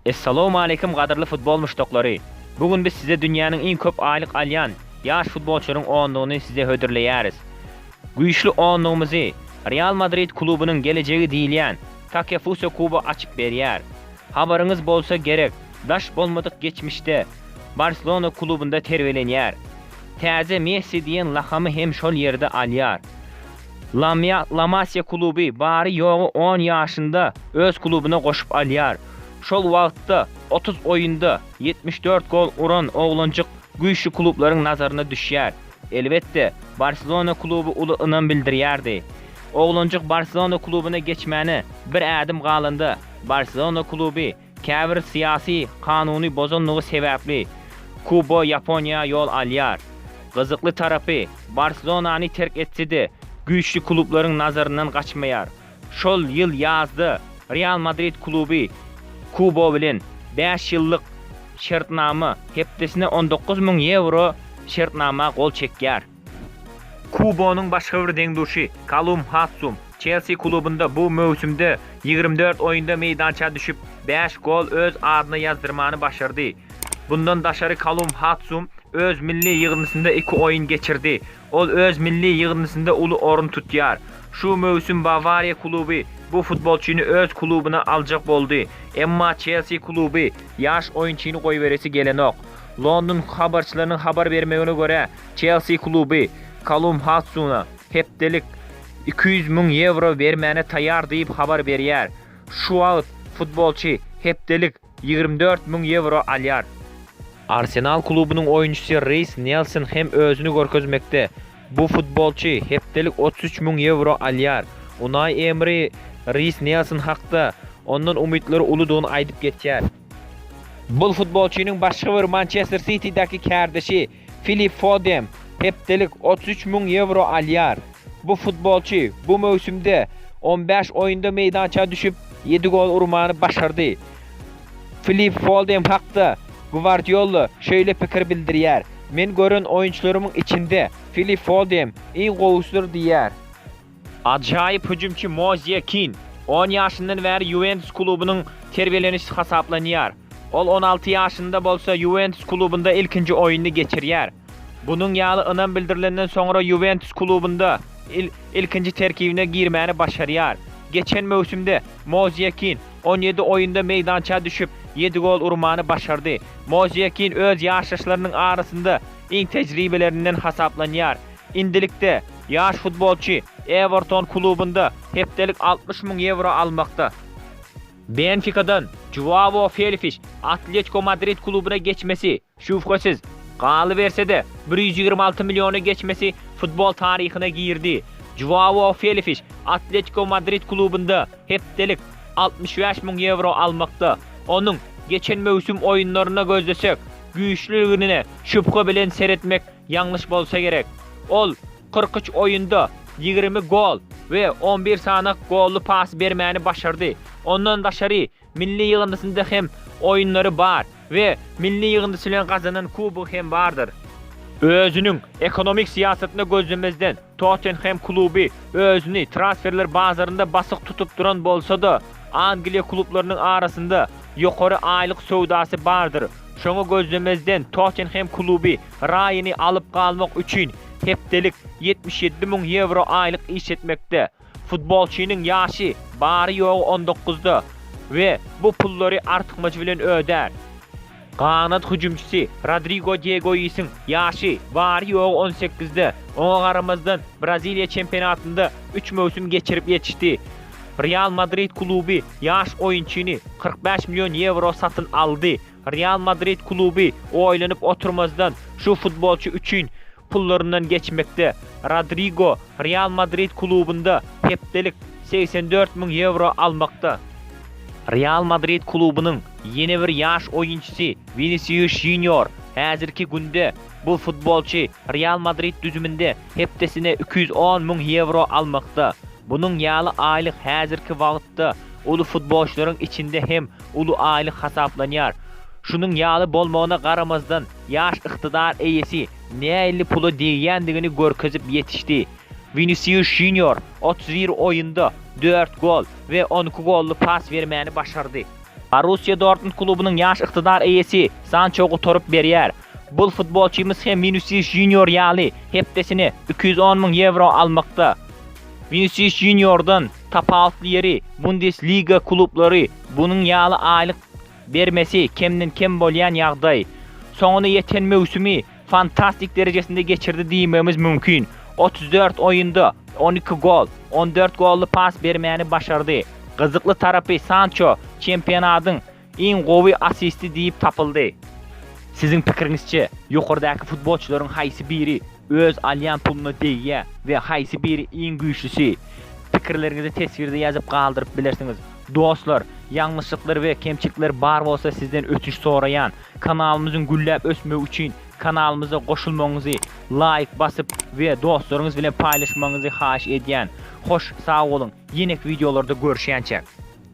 Essalowmaleýkim gadyrly futbol muşdaklary! Bu gün biz size dünýäniň iň köp aýlyk alýan ýaş futbolçylaryň onlugyny size hödürleýäris. Güýçli onlugymyzy Real Madrid klubunyň gelejegi diýilýän Takefusa Kubo açyp berýär. Habaryňyz bolsa gerek, daş bolmadyk geçmişde Barselona klubynda terbiýelenýär. Täze Messi diýen lakamy hem şol ýerde alýar. Lamia La Masia kluby bary-ýogy on ýaşynda öz klubuna goşup alýar. Şol wagtda otuz oýunda ýetmiş dört gol uran oglanjyk güýçli klublaryň nazaryna düşýär. Elbetde, Barselona kluby uly ynam bildirýärdi. Oglanjyk Barselona klubuna geçmäne bir ädim galanda, Barselona kluby Käbir syýasy kanuny bozandygy sebäpli Kubo Ýaponiýa ýol alýar. Gyzykly tarapy, Barselonany terk etse-de, güýçli klublaryň nazaryndan gaçmaýar. Şol ýyl ýazda Real Madrid kluby Kubo bilen bäş ýyllyk şertnama, hepdesine on dokuz müň ýewro şertnama gol çekýär. Kubonyň başga bir deň-duşy, Kalum Hassum, Çelsi klubynda bu möwsümde ýigrimi dört oýunda meýdança düşüp, bäş gol öz adyna ýazdyrmany başardy. Bundan daşary Kalum Hassum öz milli ýygyndysynda iki oýun geçirdi. Ol öz milli ýygyndysynda uly orun tutýar. Şu möwsüm Bawariýa kluby bu futbolçyny öz klubuna aljak boldy, emma Çelsi kluby ýaş oýunçyny goýberesi gelenok. London habarçylarynyň habar bermegine görä, Çelsi kluby Kalum Hadsuna hepdelik iki ýüz müň ýewro bermäne taýýar diýip habar berýär. Şu wagt futbolçy hepdelik ýigrimi dört müň ýewro alýar. Arsenal klubunyň oýunçysy Reýs Nelson hem özüni görkezmekde. Bu futbolçy hepdelik otuz üç müň ýewro alýar. Unaý Emri Reýs Nelson hakda ondan umytlary uludygyny aýdyp geçýär. Bu futbolçynyň başga bir Mançester Sitidäki kärdeşi Filip Fodem hepdelik otuz üç müň ýewro alýar. Bu futbolçy bu möwsümde on bäş oýunda meýdança düşüp, ýedi gol urmany başardy. Filip Fodem hakda Gwardiola şeýle pikir bildirýär, Men gören oýunçylarymyň içinde Filip Fodem iň gowusydyr diýýär. Ajaýyp hüjümçi Mozie Kinn on ýaşyndan bäri Ýuwentus klubunyň terbiýelenişçisi hasaplanýar. Ol on alty ýaşynda bolsa Ýuwentus klubunda ilkinji oýnuny geçirýär. Bunuň ýaly ynam bildirilenden soňra Ýuwentus klubunda il ilkinji terkibine girmäni başarýar. Geçen möwsümde Mozie Kinn on ýedi oýunda meýdança düşüp, ýedi gol urmany başardy. Mozie Kinn öz ýaşdaşlarynyň arasynda iň tejribelilerinden hasaplanýar. Endilikde, ýaş futbolçy Ewerton klubynda hepdelik altmyş müň ýewro almakda. Benfikadan Žuao Felfiş Atletiko Madrid klubuna geçmesi, şübhesiz, galyberse-de, bir ýüz ýigrimi alty milliona geçmesi futbol taryhyna girdi. Žuao Felfiş Atletiko Madrid klubynda hepdelik altmyş bäş müň ýewro almakda. Onuň geçen möwsüm oýunlaryna gözlesek, güýçlüligine şübhe bilen seretmek Ýalňyş bolsa gerek. Ol kyrk üç oýunda ýigrimi gol we on bir sany golly pas bermäni başardy. Ondan daşary milli ýygyndysynda hem oýunlary bar we milli ýygyndysy bilen gazanan kubogy hem bardyr. Özüniň ekonomik syýasatyna gözlemezden, Tottenhem kluby özüni transferler bazarynda basyk tutup duran bolsa-da, Angliýa klublarynyň arasynda ýokary aýlyk söwdasy bardyr. Şoňa gözlemezden Tottenhem kluby Raýany alyp galmak üçin hepdelik ýetmiş ýedi müň ýewro aýlyk iş etmekde. Futbolçynyň ýaşy bary-ýogy on dokuzda we bu pullary artykmajy bilen ödär. Ganat hüjümçisi Rodrigo de Goisiň ýaşy bary-ýogy on sekizde, oňa garamazdan, Braziliýa çempionatynda üç möwsüm geçirip ýetişdi. Real Madrid kluby ýaş oýunçyny kyrk bäş million ýewro satyn aldy. Real Madrid kluby oýlanyp oturmazdan, şu futbolçy üçin pullaryndan geçmekde. Rodrigo Real Madrid klubunda hepdelik segsen dört müň ýewro almakda. Real Madrid klubunyň ýene bir ýaş oýunçysy Winisius Junior. Häzirki günde bu futbolçy Real Madrid düzüminde hepdesine iki ýüz on müň ýewro almakda. Munuň ýaly aýlyk häzirki wagtda uly futbolçylaryň içinde hem uly aýlyk hasaplanýar. Şunuň ýaly bolmagyna garamazdan, Ýaş ykdydar eýesi nähili pula degýändigini görkezip ýetişdi. Winisius Junior otuz bir oýunda dört gol we on iki golly pas bermäni başardy. Borussiýa Dortmund klubunyň ýaş ykdydar eýesi Sanço gutaryp berýär. Bul futbolçymyz hem Winisius Junior ýaly hepdesine iki ýüz on müň ýewro almakda. Winisius Juniordan tapawutly ýeri Bundesliga klublary bunuň ýaly aýlyk bermesi kemden-kem bolýan ýagdaý, soňuna ýeten möwsümi fantastik derejesinde geçirdi diýmegimiz mümkin. Otuz dört oýunda on iki gol, on dört golly pas bermäni başardy. Gyzykly tarapy Sanço çempionatyň iň gowy assisti diýip tapyldy. Siziň pikiriňizçe, ýokardaky futbolçylaryň haýsy biri Öz alýan puluna degýä we haýsy biri iň güýçlüsi? Pikirleriňizi teswirde ýazyp galdyryp bilersiňiz. Dostlar, ýalňyşlyklar we kemçilikler bar bolsa sizden ötünç soraýan. Kanalymyzyň gülläp ösmegi üçin kanalymyza goşulmagyňyzy, laýk basyp we dostlaryňyz bilen paýlaşmagyňyzy haýyş edýän. Hoş sag boluň, ýeneki wideolarda görüşýänçäk.